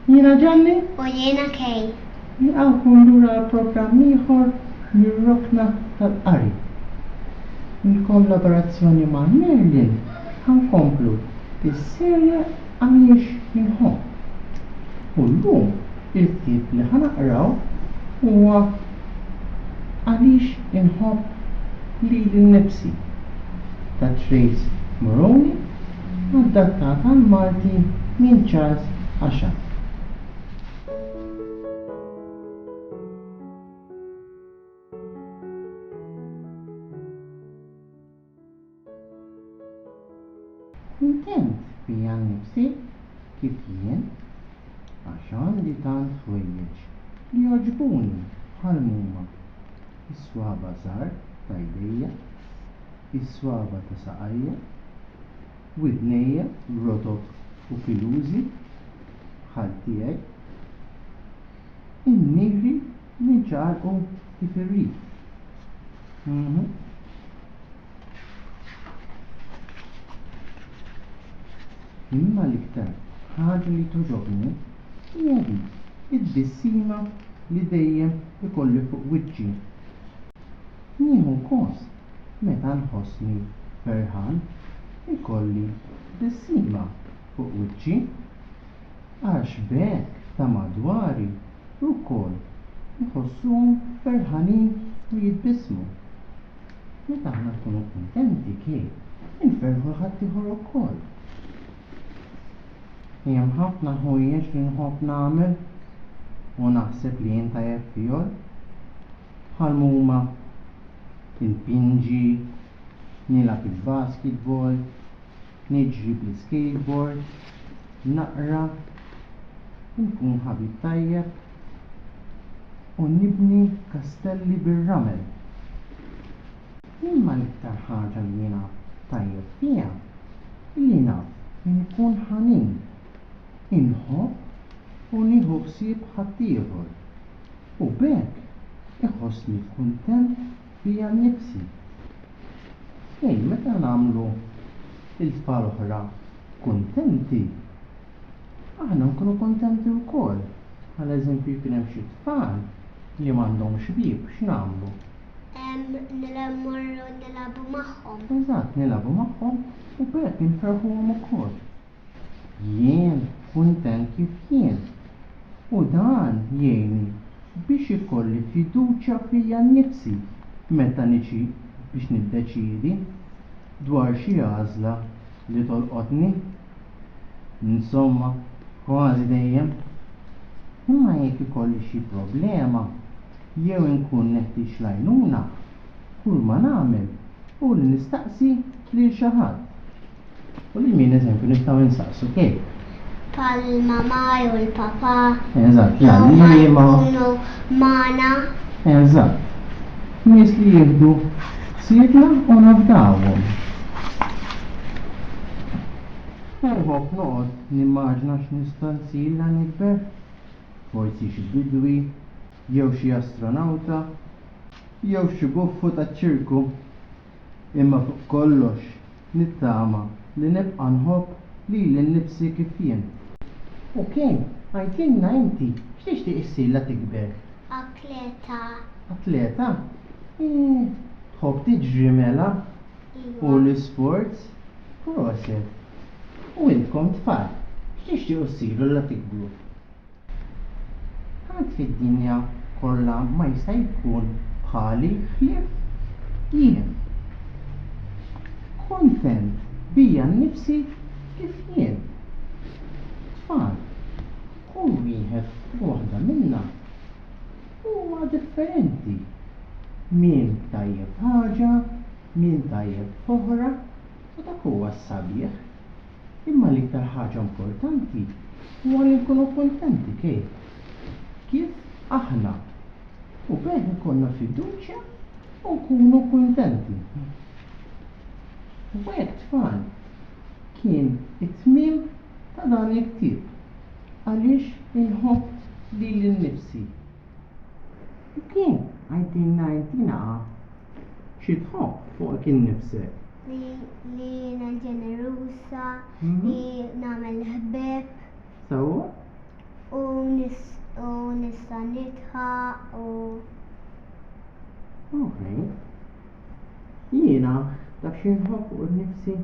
Jiena Ġanni. U jiena Kej. Nilqawkom lura programm ieħor mir-rokna tal-qari. Il-kollaborazzjoni ma' Merlin ħankomplu bis-serje Għaliex Inħobb. U llum Il-ktieb li ħa naqraw huwa Għaliex Inħobb Lili Nnifsi? ta' Trace Moroney, adattat għall-Malti minn Charles Ashard. Kuntent bija nnifsi kif jien għax għandi tant ħwejjeġ li jogħġbuni bħal m'huma, is-swaba' żgħar ta' jdejja, is-swaba' ta' saqajja, widnejja rotob u pilużi bħal tiegħi, in-nigri Ninċaqalqu kif irrid. Mhmm. Imma l-iktar ħaġa li togħġobni hija dik it-tbissima li dejjem ikolli fuq wiċċi. Nieħu gost meta nħossni ferħan ikolli tbissima fuq wiċċi. Għax b'hekk ta' madwari wkoll iħossuhom ferħanin u jitbissmu. Meta aħna nkunu kuntenti kif inferrħu 'l ħaddieħor ukoll? Hemm ħafna ħwejjeġ li nħobb nagħmel u naħseb li jien tajjeb fihol, bħal m'huma inpinġi, nilgħab il-basketball, Niġri bl-iskejtbord, naqra, inkun ħabib tajjeb u nibni kastelli bir-ramel. Imma l-iktar ħaġa li jiena tajjeb fiha hi li naf inkun ħanin, inħobb u nieħu ħsieb ħaddieħor u b'hekk iħossni kuntent bija nnifsi. Xejn, meta nagħmlu lil tfal oħra kuntenti, aħna nkunu kuntenti wkoll. Bħala eżempju, jkun hemm xi tfal li m'għandhomx ħbieb, x'nagħmlu? Mmorru nilagħbu magħhom. Eżatt, nilagħbu magħhom u b'hekk inferrħuhom ukoll. Jien kuntent kif jien, u dan jgħinni biex ikolli fiduċja fija nnifsi meta niġi biex niddeċiedi dwar xi għażla li tolqotni. Insomma, kważi dejjem. Imma jekk ikolli xi problema jew inkun neħtieġ l-għajnuna, kulma nagħmel hu li nistaqsi lil xi ħadd. U li min eżempju nistgħu insaqsu kif? Pal-mamma jew il-papà. Eżatt, l-għalliema. Jkunu magħna. Eżatt. Nies li jieħdu ħsiebna u nafdawhom. Perħok noqgħod nimmaġna x'nista' nsir la nikber. Forsi xi bidwi, jew xi astronawta, jew xi buffu taċ-ċirku. Imma fuq kollox nittama li nibqa' nħobb lili nnifsi kif jien. Oke, għidlilna inti, x'tixtieq issir la tikber? Atleta. Atleta? Eeh, tħobb tiġri mela? Iva. U l-isports? Proset. U intkom tfal, x'tixtiequ ssiru la tikbru? Ħadd fid-dinja kollha ma jista' jkun bħali ħlief jien. Kuntent bija nnifsi kif jien. Tfal, kull wieħed u waħda minna huma differenti. Min tajjeb f'ħaġa, min tajjeb f'oħra u dak huwa s-sabiħ. Imma l-iktar ħaġa importanti huwa li nkunu kuntenti kif? Kif aħna. U b'hekk ikollna fiduċja u nkunu kuntenti. U hekk tfal, kien it-tmiem ta' dan il-ktieb, Għaliex inħobb lili nnifsi. Okej, għidilna intina qatt xi tħobb fuqek innifsek. Li jiena ġeneruża, li nagħmel ħbieb. Sewwa? U nista' nidħaq u. Okej. Jiena taf xi nħobb fuq innifsi?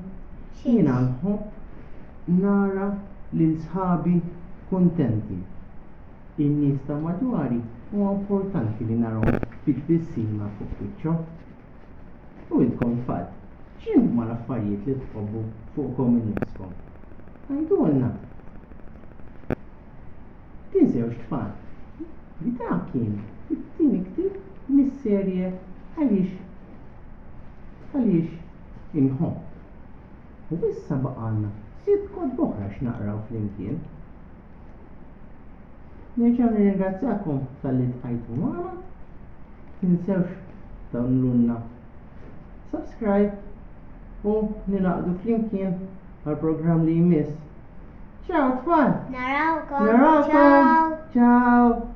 Jiena nħobb nara lil sħabi kuntenti. In-nies ta' madwari huwa importanti li narahom bit-tbissima fuq wiċċhom. U intkom tfal, x'inhuma l-affarijiet li tħobbu fuqkom innifskom? Għidulna! Din Żewġ Tfal B'dan kien it-tieni ktieb mis-serje Għaliex Għaliex Inħobb. U issa baqgħalna sitt kotba oħra x'naqraw flimkien. Nerġa' nirringrazzjakom talli tqajtu magħna. Tinsewx tagħmlulna subscribe u ningħaqdu flimkien għall-programm li jmiss. Ciao tfal! Narawkom! Narawkom! Ciao! Ciao!